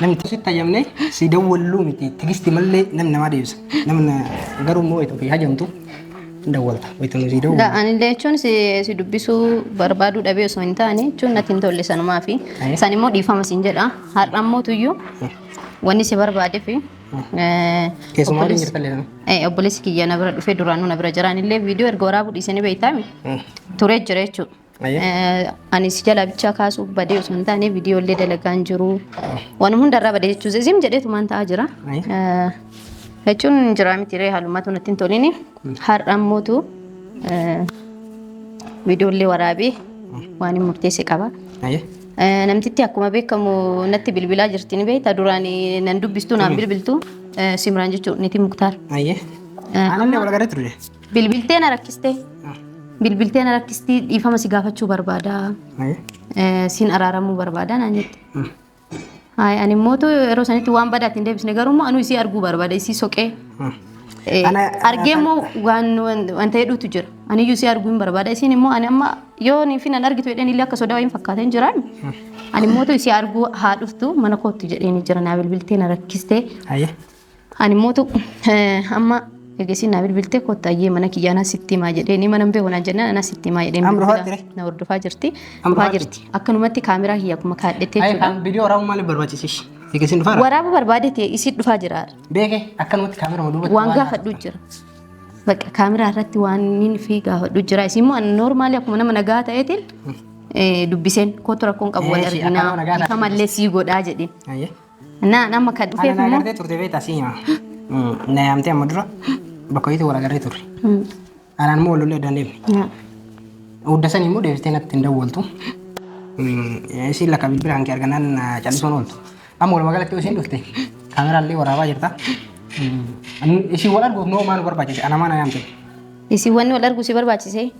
Namni sitti hayyamne si dawwalluu miti tigisti mallee nam namaa deebisa. Namni garuu immoo wayita ofii hajamtu hin dawwalta. Wayita nu si dawwalu. Da, anillee jechuun si, si dubbisuu barbaaduu dhabee osoo hin taane jechuun natti hin tolle sanumaa fi Aye. san immoo dhiifama siin jedha har'a immoo tuyyuu wanni si barbaadee fi eh, Keessumaa waliin obboleessi- jirtallee nama. eh, obboleessi kiyya na bira dhufee duraanuu na bira jiraanillee viidiyoo erga waraabuu dhiisanii beektaami turee jira jechuudha. Ani si jalaa bichaa kaasuuf badee osoo hin taane viidiyoo illee dalagaan jiru. Wanuma hundarraa badee jechuun zim jedheetu maan ta'aa jira. Jechuun jiraa miti ree haalummaatu natti hin tolini. Har'a ammootu viidiyoo illee waraabee waan hin murteesse qaba. Namtitti akkuma beekamu natti bilbilaa jirti ni beekta duraan nan dubbistu naan bilbiltu Simraan jechuun niitii Muktaar. Ananne wal agarree turre. Bilbiltee na rakkistee. Bilbiltee na rakkistii dhiifama si gaafachuu barbaada. Ayi. Eh, Siin araaramuu barbaada naan jette. Haay ani immoo tu yeroo sanitti waan badaa ittiin deebisne garuu immoo anuu isii arguu barbaada isii soqee. Eh, Ana- Argee immoo waan waan- wanta hedduutu jira. Ani iyyuu isii arguu hin barbaada isiin immoo ani amma yoo nii fi nan argitu jedheen illee akka sodaa wayii hin fakkaateen jiraan. Ani immoo tu isii arguu haa dhuftu mana kootti jedheen jira naa bilbiltee na rakkistee. Ayi. Ani mootu amma eegasii naa bilbiltee kottu ayyee mana kiyya anaa sitti himaa jedhee ni mana hin beeku naan jennaan anaa sitti himaa jedhee Amru bilbila haattire. na hordofaa jirti. Amru Dhufaa haattire. jirti. Akkanumatti kaameraa kiyya akkuma kaadhettee Ayi jechuudha. kan viidiyoo waraabuu maaliif barbaachisish? Eegasiin dhufaara. Waraabuu barbaade ta'e isii dhufaa jira. Beeke akkanumatti kaamerama duubatti Waan gaafadhu jira. Bakka kaameraa irratti waan inni fi gaafadhu jira. Isin immoo noormaalii akkuma nama nagaa ta'eetiin eh, dubbiseen kootu rakkoon qabu wal Eeshi, arginaa. akkana nagaa Ifa taate. mallee sii godhaa jedheen. Ayyee. Naan amma kan dhufeef Ana immoo agartee turte beektaa si hima. Na yaamtee amma dura bakka hojiitti wal agarree turre. Anaan immoo wal lollee addaan deemne. Hudda sanii immoo deebistee natti hin dawwaltu. Isiin lakka bilbila hanqee arganaan callisuun ooltu. Amma walumaa galatti isiin dhufte kaameraallee waraabaa jirta. Isiin wal arguuf noo maal barbaachise? Ana maana yaamte. Isin wanni wal arguu si barbaachise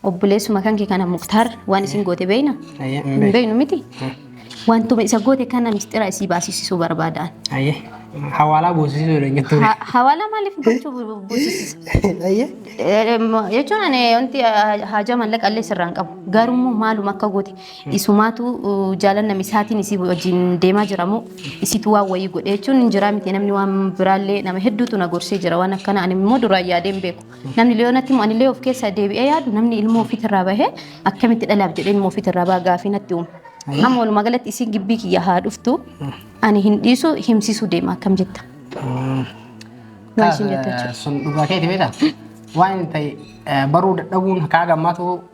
obboleessuma kanke kana muktaar waan isin goote beeyna Ayyee, hin hin beeynu miti wantuma isa goote kana mistira isii baasisisuu barbaadaan. Ayyee. Hawaalaa buusisuu jedhan jettuu. Ha- Hawaalaa maaliif gochuu bu- bu- buusisisa? Ayyee. Eh, mo- Jechuun ani wanti ah, haajaa mallaqa illee sirraan qabu garuu immoo maaluma akka goote Isumaatu jaalan namisaatiin isii wajjin deemaa jira moo isitu waan wayii godhe jechuun hin jiraa miti namni waan biraallee nama hedduutu na gorsee jira waan akkana ani immoo duraan yaadee hin beeku namni leeyoonatti immoo anillee of keessaa deebi'ee yaadu namni ilmoo ofiitirraa bahee akkamitti dhalaaf jedhee ilmoo ofiitirraa baha gaafii natti uume. Amma walumaa galatti isiin gibbii kiyya haa dhuftu ani hin dhiisu himsiisuu deema akkam jetta. Waan isin jettu jechuudha. Sun dhugaa keeti beektaa? Waan hin ta'e baruu dadhabuun kaa gammaatu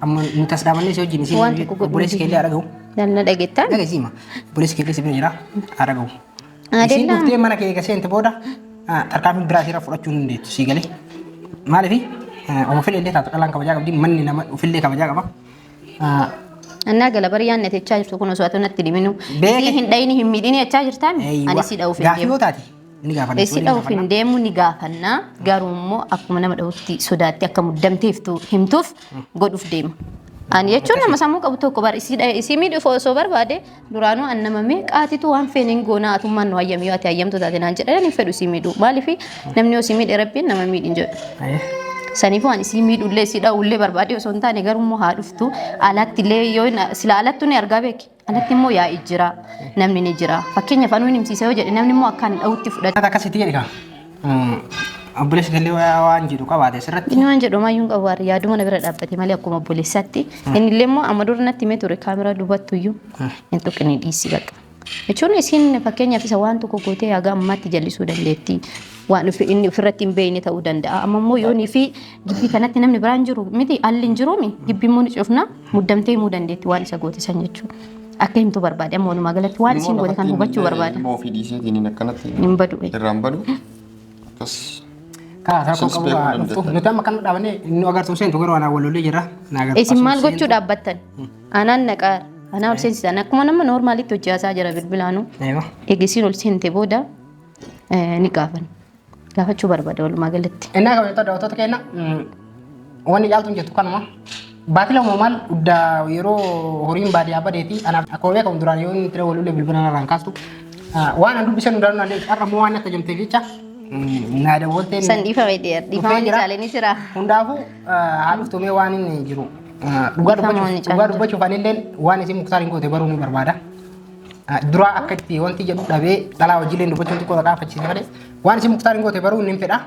Amma nu tas dhaabannee si wajjin si Waan tokko godhuu obboleessi keellee haa dhagahu. Nan na dhageettaan? Dhagesiima. Obboleessi keellee si bira jira haa dhagahu. Isin Adeemnaa? dhuftee mana kee eega seente booda ah, tarkaanfii biraa siirra fudhachuu hin dandeettu sii galee. Maaliif? Oma fedhe illee taatu dhalaan kabajaa qabdi manni nama ofillee kabajaa qaba. Ah, Annaa gala bari yaanni ati jechaa jirtu kun osoo ati natti dhiminu. Beeke. Isii hin dhayini hin miidhini jechaa jirtaan? Eeywa. Ani si dha'uuf hin Gaaffii deemu. yoo taate Ni gaafanna. Eessi Ni dhahuuf hin gaafanna. deemu ni gaafanna. Garuu immoo akkuma nama dhahutti sodaatti akka muddamteeftu himtuuf godhuuf deema. Ani jechuun nama sammuu qabu tokko bar isii dhahe isii miidhuuf osoo barbaade duraanuu an nama meeqaatitu waan feene hin goonaa atummaan nu hayyamii yoo ati hayyamtu taate naan jedhan ani hin fedhu isii miidhuu maaliif namni osii miidhe rabbiin nama miidhin jedhu. Aye. Saniifuu ani isii miidhullee isii dha'ullee barbaade osoo hin taane garuu immoo haa dhuftu alaatti illee yoo hin- sila alattu ni argaa beeki. Kanatti immoo yaa'i jira, namni ni jira. Fakkeenyaaf anuu hin himsiisa yoo jedhe namni immoo akkaan dha'utti fudhata. Akkaataa akkasitti jedhe kaa. Obboleessi gallee waa- waan jedhu qabaate asirratti. Inni waan jedhu maayyuun qabu har'a yaaduma na bira dhaabbate malee akkuma obboleessaatti. Inni illee immoo amma dura natti himee ture kaameraa duubattu iyyuu hin tuqne dhiisii bakka. Jechuun isiin fakkeenyaaf isa waan tokko gootee haga ammaatti jallisuu dandeetti. Waan ofi- inni ofirratti hin beekne ta'uu danda'a. Amma immoo yoonii fi Gibbii kanatti namni biraan jiru miti alli hin jiruumi gibbii immoo ni cufna muddamtee himuu dandeetti waan isa goote san jechuudha. Akka himtu barbaade amma walumaa galatti waan isiin goote kan hubachuu barbaada. Immoo ofii dhiiseetiin akkanatti Hin badu. irraan badu. Akkas Kaa rakkoo Isinis qabu beekuu kaa dhuftu. dandeettan. Nuti amma kan dhaabannee nu agartuu seentu garuu anaa walollee jirra. Na agartuu Isin maal seentu. gochuu dhaabbattan? Anaan naqaa anaa ol seensisan akkuma nama normaalitti hojjaasaa jira bilbilaanuu. Eewa. Eegisiin ol seente booda eh, ni gaafan. Gaafachuu barbaada walumaa galatti. Innaa kabajattoota daawwattoota keenya wanni caaltuun jettu kanuma. Baatii lama maal uddaa yeroo horiin baadiyyaa badee fi anaaf akkuma beekamu duraan yoo inni tira walullee bilbila narraan kaastu waan an dubbisan hundaa naan deebisu har'a immoo waan natti hojjamteef jecha naa dawwaltee San dhiifame dhiyeera. Dhiifama ni caalee ni jira. Hundaafuu haa dhuftu mee waan inni jiru. Dhugaa Dhiifama ni dubbachuuf dhugaa caaltu. dubbachuuf anillee waan isin muktaariin goote baruu ni barbaada. Duraa akka itti wanti jedhu dhabee dhalaa hojiileen dubbachuun xiqqoo dhaqaa fachiisa malee waan isin muktaariin goote baruu hin fedha.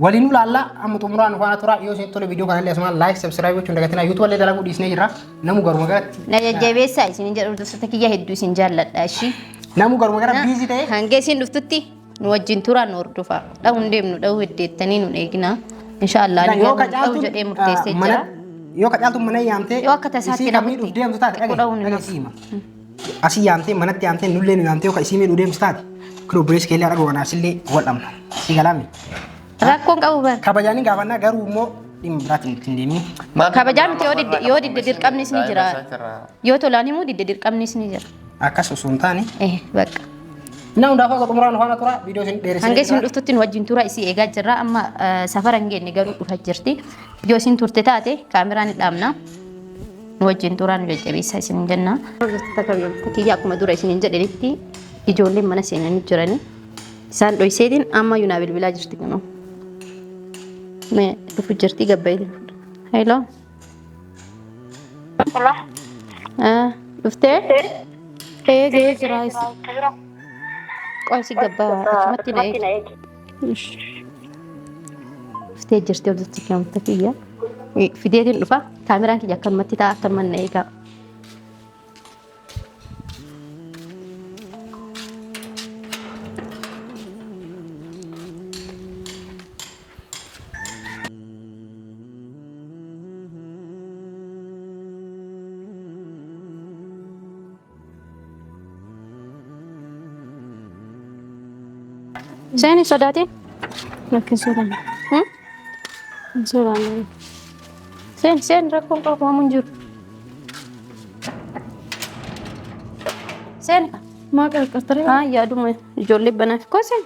Waliin ulaalla amma xumuraa nu faana turaa yoo isin tole viidiyoo kanallee asumaan laayik sabsiraayib gochuun dagatinaa yuutuuba illee dalaguu dhiisnee jirra namu garuma garatti. Na jajjabeessaa isin jedhu hordoftoota kiyya hedduu isin jaalladha ishii. Namu garuma gara biizii ta'e. Hanga isin dhuftutti nu wajjin turaa nu hordofaa. Dhahuu hin deemnu dhahuu heddeettanii nu eeginaa. Inshaallah ani Yoo garuu ka dhahuu jedhee caaltuun murteessee mana jira. yoo ka caaltuun mana yaamtee Yoo akka tasaatti isii kan namatti miidhuuf deemtu taate xiqqoo dhahuu ni dhagahi dhagahi siima. Asii yaamtee manatti yaamtee nullee nu yaamtee yookaan isii miidhuu deemtu taate kun obboleessi keellee har'a goonaa sillee wal dhabna. Si galaami. Rakkoon qabu bar. Kabajaan hin gaafannaa garuu immoo dhimma biraatiin ittiin deemee. Kabajaa miti yoo didde yoo didde dirqamnis ni jira. Yoo tolaan himuu didde dirqamnis ni jira. Akkas osoo hin taane. Eh bakka. Innaa hundaafuu akka xumuraan faana tura viidiyoo isin dheeressee. Hanga isin dhuftutti nu wajjin tura isii eegaa jirra amma eh, safara hin geenye garuu dhufa jirti. Yoo isin turte taate kaameraan ni dhaabna. nu wajjin turaa nu jajjabeessaa isin jenna. Hordoftoota kabajamtoota kiyya akkuma dura isiniin jedhanitti ijoolleen mana seenanii jiranii isaan dhoyseetiin amma yunaa bilbilaa jirti kunoo. Mee dhufu jirti gabba'iitiin fuudha. Hello. Hello. Ah, Dhuftee? Ee ga'ee jira. Qoy si gabbaa achumatti na eegi. Dhuftee jirti obsichi kiyaamta kiyya. Fideetiin dhufa. Kaameraan kiyya akkanumatti ta'a akkanuma na eegaa. Seeni sodaatee? Lakkin sodaanne. Hmm? Hin sodaanne. Seeni seeni rakkoon qabu homaa hin jiru. Seeni. Maa qarqartaree? Haa yaaduma ijoollee banaaf koo seeni.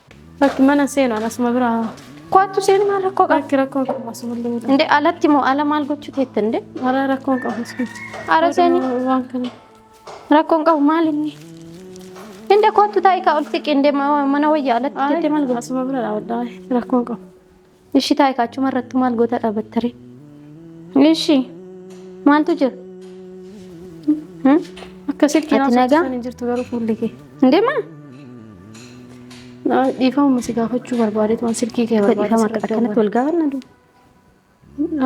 Lakki mana seenu an asuma bira. Koottu seenu maal rakkoo qaba? Lakki rakkoo qabu asuma illee bira. Indee alatti moo ala maal gochuu teette indee? Hara rakkoo qabu asuma. Hara seeni. Waan kana. Rakkoon qabu maal inni? Indee koottu taa'ii kaa ol siqi indee ma- mana wayyaa alatti teette maal gochuu? Asuma bira dhaabadhaa. Rakkoo qabu. Ishi taa'e kaachuma irrattu maal goota dhaabattare? Ishi maaltu jira? Hmm? Akka silkiin Ati nagaa? haasofsiisan hin jirtu garuu fuulli kee. Hin deemaa? Naa- Dhiifama si gaafachuu barbaadeetu waan silkii kee Dhiifama barbaadee akka- akkanatti wal gaafanna duu.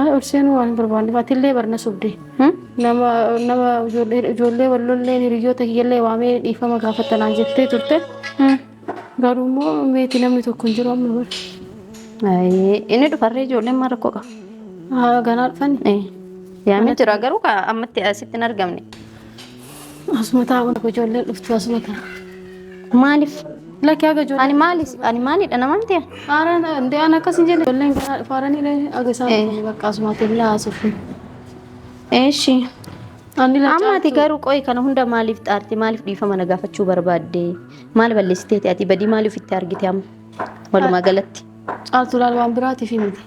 Ay, ol seenuu waan hin barbaanneef atillee barna sobdee. Hmm? Nama nama ijoollee ijoollee wallollee hiriyoota kiyyallee waamee dhiifama gaafattanaan jettee turte. Hmm. Garuu immoo meetii namni tokko hin jiru amma bara. Ayee, Inni dhufarree ijoolleen maal rakkoo qaba? Haa ganaa dhufan Eh, Yaamee jira garuu ka ammatti asitti hin argamne. asuma taa'uun akka ijoolleen dhuftu asuma ta'a. Maaliif? Lakki haga ijoolleen. Ani maali? Ani maalidha namaan ta'e? Haaraan hundee aan akkas hin jenne ijoolleen ganaa dhufaaranii haga isaan Eh. dhufanii bakka asuma ta'e hin haasofne. Eeshi. Amma ati garuu qoyi kana hunda maaliif xaarte maaliif dhiifama na gaafachuu barbaadde maal balleessiteeti ati badii maaliif itti argite amma walumaa galatti. Caaltuu laal waan biraatiif himte.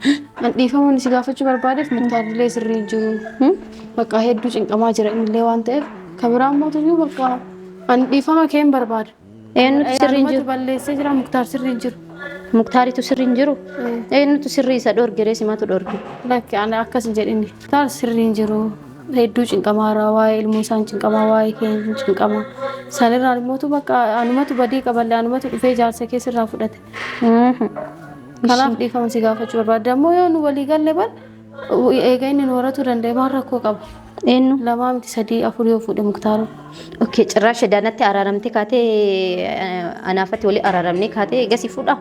An dhiifamuun si gaafachuu barbaadeef muktaarrilee sirrii jiru. Bakka hedduu cinqamaa jira innillee waan ta'eef kan biraa mootuyyuu bakka an dhiifama kee hin barbaadu. Eenyutu sirri hin jiru? balleessee jira muktaar sirri hin jiru. Muktaaritu sirri hin jiru? Eenyutu sirri isa dhorge ree simatu dhorge? Lakki ani akkas hin jedhini. Muktaar sirri hin jiru. Hedduu cinqamaa irraa waa'ee ilmoo isaan cinqamaa waa'ee keenya cinqamaa. Sanirraa immootu bakka anumatu badii qaballe anumatu dhufee jaarsa kee sirraa fudhate. Kanaaf dhiifama si gaafachuu barbaadda. Ammoo yoo nu walii galle bar Eega inni nu horatuu danda'e maal rakkoo qaba? Eenyu? Lamaa miti sadii afur yoo fuudhe muktaara. Okkee cirraa shedaanatti araaramte kaatee eh, anaafatti walii araaramne kaatee egasii fuudha.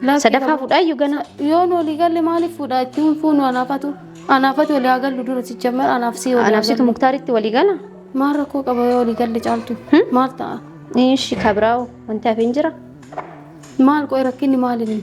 Lakkii Sadaffaa qaba. fuudhaa iyyuu gana. Yoo nu walii galle maaliif fuudha? Itti hin fuunu anaafatu. Anaafatu walii haa gallu dura sijjammar anaaf sii walii haa Anaaf situ gallu. muktaaritti walii gala. Maal rakkoo qaba yoo walii galle caaltu? Maal ta'a? Ishi kabiraawo wanti hafe hin jira. Maal qo'i rakkinni maali inni?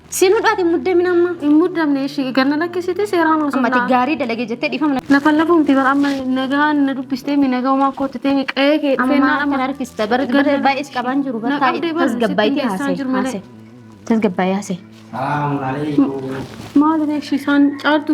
Siin hudhaati muddamin amma. Hin muddamne ishii ganna lakkisite seeraan osoo Ammati gaarii dalagee jettee dhiifama na- Lafa lafuun tibar amma nagaan na dubbistee mi nagaa umaa kootti ta'e mi qa'ee kee dhufee ammaa naan kan harkista bar bar baay'ees qabaan jiru bar taa'e tasgabbaayitee haasee haasee tasgabbaayee haasee Maali beeksisaan caaltu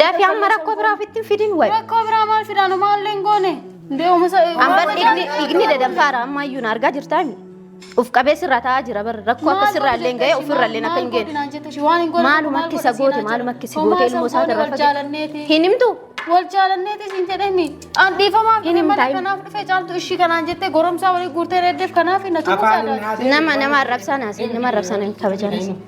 Dafi amma rakkoo biraa ofitti hin fidin wayi. Rakkoo biraa maal fidaanu maallee hin goone. Ndee uumisa. Amma dhiigni dhiigni dadanfaara amma iyyuu na argaa jirtaa mi? Uf qabee sirraa taa'aa jira bar rakkoo akka sirraa illee hin ga'e ofirra illee akka hin geenye. Maaluma akka isa goote maaluma akka isa goote ilmoo isaa irraa fageesse. Hin himtu? Wal jaalanneetis hin jedhemi. An dhiifamaaf Hin himta, malee hin- kanaaf dhufee caaltu ishii kanaan jettee goromsaa walii guurtee reeddeef kanaaf hin natu Afaan hin haasa'in. Nama nama arrabsaan haasee nama arrabsaan hin kabajaan haasee.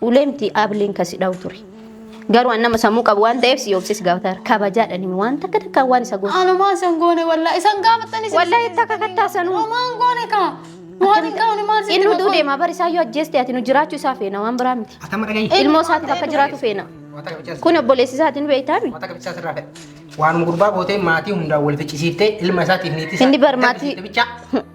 Uleemti Aableen kan si dhawu ture. Garuu an nama sammuu qabu waan ta'eef si obsee si gaafataara. Kabajaadhaan himi waan takka takkaan waan isa gootu. Anumaa isan goone wallaa isan gaafattanii isin Wallaahi itti akka kattaa sanuu. Homaan goone kaa. Waan hin qabne maal sitti Inni utuu deemaa bari isaayyuu ajjeeste ati nu jiraachuu isaa feena waan biraa miti. Atama dhagayi. Ilmoo isaatiif akka jiraatu feena. Wata kabichas. Kun obboleessi isaati nu beektaami. Wata kabichas irraa fedha. Waanuma gurbaa gootee maatii hundaan wal ficcisiiftee ilma isaatiif niitii isaa. Inni bar maatii- Gaddisiifte bichaa.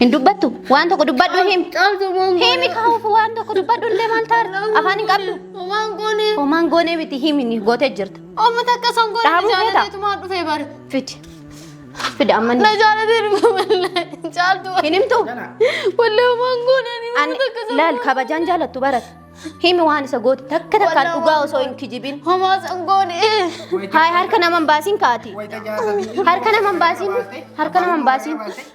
Hin dubbattu? Waan tokko dubbadhu him. Himi kaa'uuf waan tokko dubbadhu illee maal taarta? Afaan hin qabdu? Homaan goone. Homaan goonee miti himi ni gootee jirta. Amma takka san goone Dhaabuu feeta? jaallateetumaa dhufee bari. Fidi. Fidi amma ni. Na jaallatee dhufe malee. Caaltu. Hin himtu? Wallee homaan goone. ani Ani amma takka san laal goone. kabajaan jaalattu barat. Himi waan isa goote takka takkaan Walaa dhugaa waan osoo hin kijibin. Homaa san goone. Haay harka nama hin baasiin kaati. Harka nama hin baasiin. Harka nama hin baasiin.